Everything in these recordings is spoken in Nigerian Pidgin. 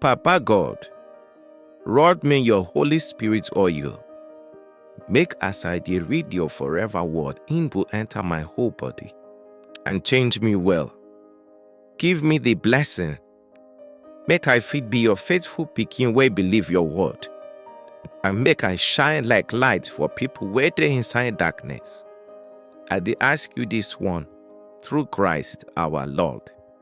Papa God, rod me your Holy Spirit oil. Make as I dey read your forever word, im go enter my whole body and change me well. Give me the blessing, make I fit be your faithful pikin wey believe your word, and make I shine like light for people wey dey inside darkness. I dey ask you this one through Christ our Lord.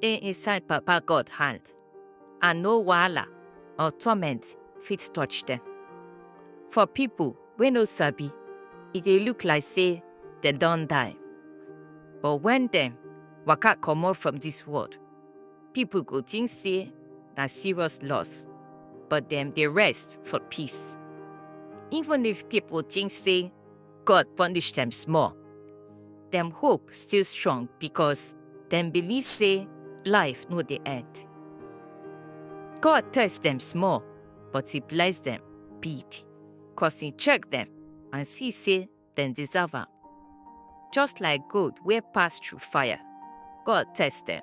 dey inside Papa God hand, and no wahala or torment fit touch dem. For pipo wey no sabi, e dey look like sey dem don die, but wen dem waka comot from dis world, pipo go tink sey na serious loss, but dem dey rest for peace. Even if pipo tink sey. God punish dem small. Dem hope still strong because dem believe say life no dey end. God test dem small, but he bless dem big, cause he check dem and see say dem deserve am. Just like gold wey pass through fire, God test dem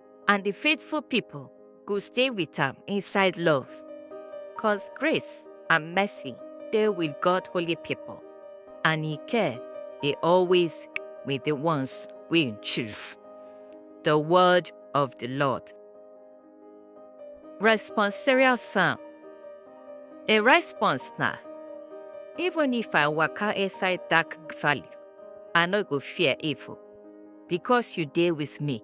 and the faithful people go stay with am inside love. Cause grace and mercy dey with God holy people, and he care dey always with the ones wey he choose. The word of the Lord. Responsorial Psalm A response na Even if I waka inside dark valley, I no go fear evil, because you dey with me.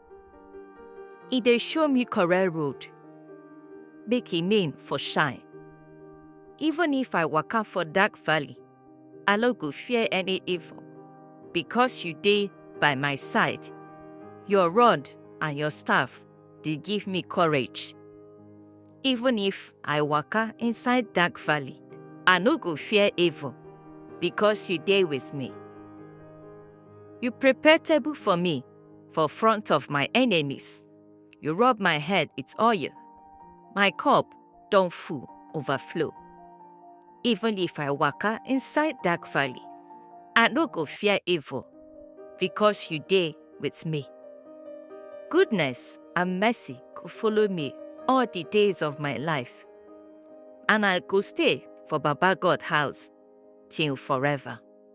e dey show me correct road make e name for shine even if i waka for dark valley i no go fear any evil because you dey by my side your rod and your staff dey give me courage even if i waka inside dark valley i no go fear evil because you dey with me you prepare table for me for front of my enemies. You rub my head with oil. My cup don full, overflow. Even if I waka inside dark valley, I no go fear evil, because you dey with me. Goodness and mercy go follow me all the days of my life, and I go stay for Baba God house till forever.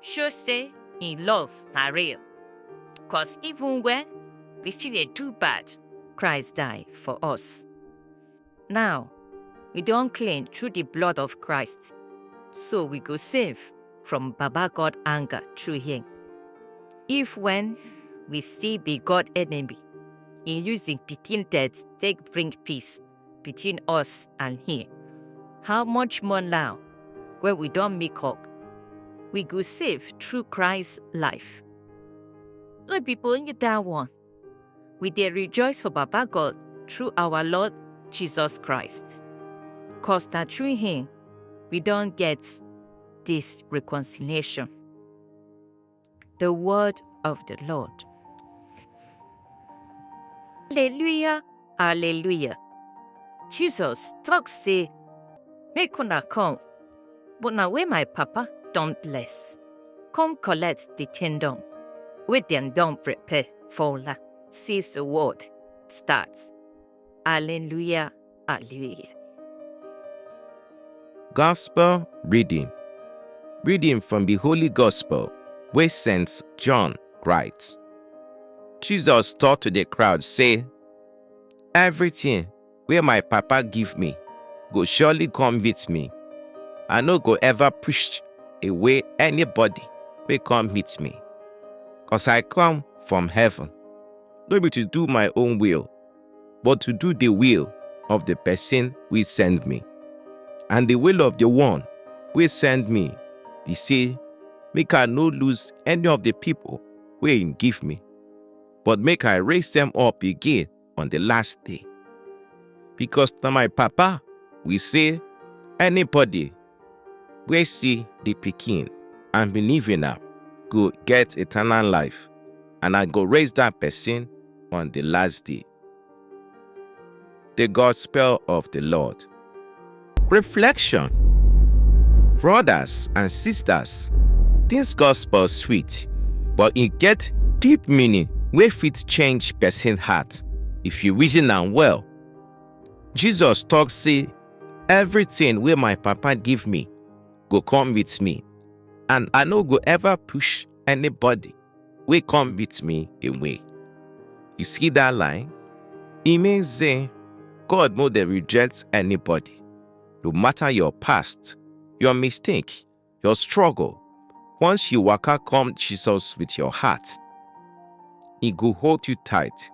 show say im love na real. Cause even when we still dey do bad, Christ die for us. Now, we don clean through the blood of Christ, so we go save from Baba God anger through him. If when we still be God enemy, he use him pikin death take bring peace, between us and him. How much more now, where we don't make up, we go save through Christ's life. No be only that one. We dey rejoice for Baba God through our Lord Jesus Christ. Cause that through him, we don't get this reconciliation. The word of the Lord. Alleluia, alleluia. Jesus talk say, make una come, but na wey my papa don bless. Come collect the kingdom wey dem don prepare for una since the world start. Alleluia, Ah, Luis. Gospel reading. Reading from the Holy Gospel, where Saint John writes. Jesus taught to the crowd, say, Everything where my papa give me go surely come with me. I no go ever push away anybody wey come meet me. Cause I come from heaven, no be to do my own will, but to do the will of the person wey send me. And the will of the one wey send me be say make I no lose any of the people wey him give me, but make I raise them up again on the last day. Because na my papa will say anybody wey see the pikin and believe in am go get eternal life, and I go raise that person on the last day. The Gospel of the Lord. Reflection Brothers and sisters, this gospel sweet, but e get deep meaning wey fit change person heart if you reason am well. Jesus talk say Everything wey my papa give me go come with me, and I no go ever push anybody wey come with me away. You see that line? E mean say God no dey reject anybody, no matter your past, your mistake, your struggle. Once you waka come Jesus with your heart, he go hold you tight.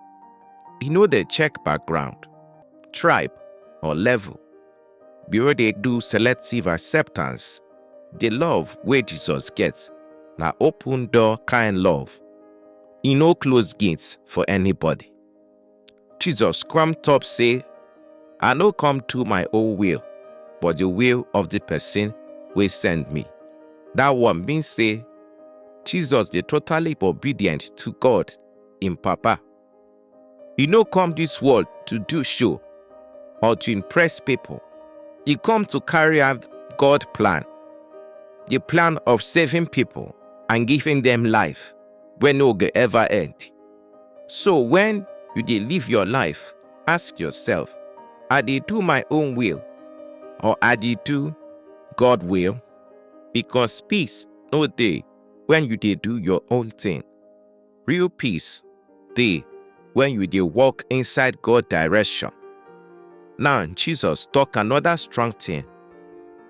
He no dey check background, tribe or level. Bureau dey do selective acceptance. The love wey Jesus get na open door kind love. E no close gate for anybody. Jesus come talk say, I no come do my own will, but the will of the person wey send me. That one mean say Jesus dey totally obedient to God, im Papa. E no come this world to do show or to impress people. E come to carry out God plan, the plan of saving people and giving them life wey no go ever end. So when you dey live your life, ask yourself, I dey do my own will or I dey do God will? Because peace no dey when you dey do your own thing. Real peace dey when you dey walk inside God direction. Now Jesus talk another strong thing.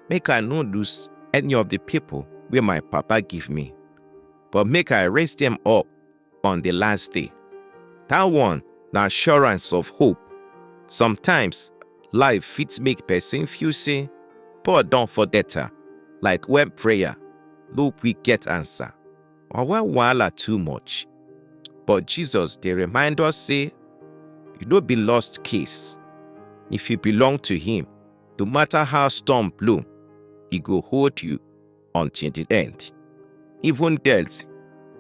Make I no lose any of the people wey my papa give me, but make I raise them up on the last day. That one na assurance of hope. Sometimes, life fit make person feel say God don forget her, like when prayer no quick get answer or when wahala too much. But Jesus dey remind us say you no be lost case. If you belong to him, no matter how storm blow, he go hold you. until the end. Even death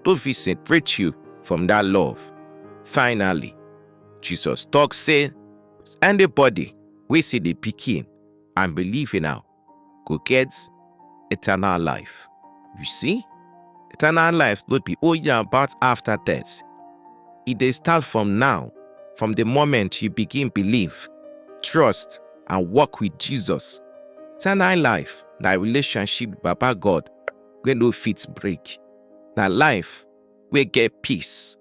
no fit separate you from that love. Finally, Jesus talk say, anybody wey see the pikin and believe in am go get eternal life. You see, eternal life no be only about after death. E dey start from now, from the moment you begin believe, trust, and walk with Jesus. Eternal life na relationship with Baba God wey no fit break. Na life wey get peace,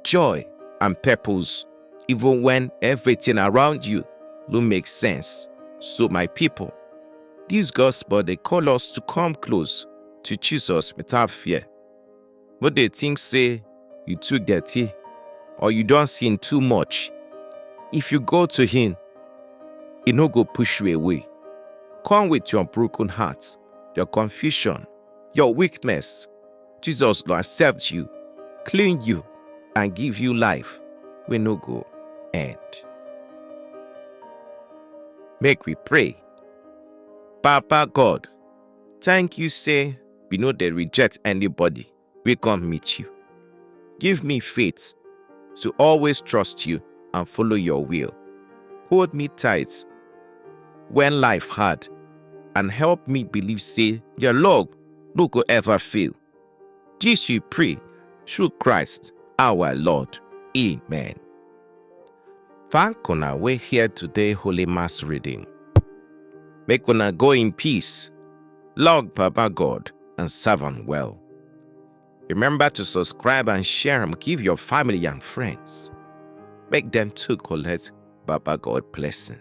joy, and purpose, even when everything around you no make sense. So, my people, this gospel dey call us to come close to Jesus without fear. no dey think say you too dirty or you don sin too much. If you go to him, he no go push you away. Come with your broken heart, your confusion, your weakness. Jesus go accept you, clean you, and give you life wey no go end. Make we pray. Papa God, thank you say we no dey reject anybody wey come meet you. Give me faith to always trust you and follow your will. Hold me tight when life hard and help me believe say your love no go ever fail. This we pray through Christ our Lord. Amen. Thank una wey hear today Holy Mass reading. Make una go in peace, log Baba God and serve am well. Remember to subscribe and share am give your family and friends. Make dem too collect Baba God blessing.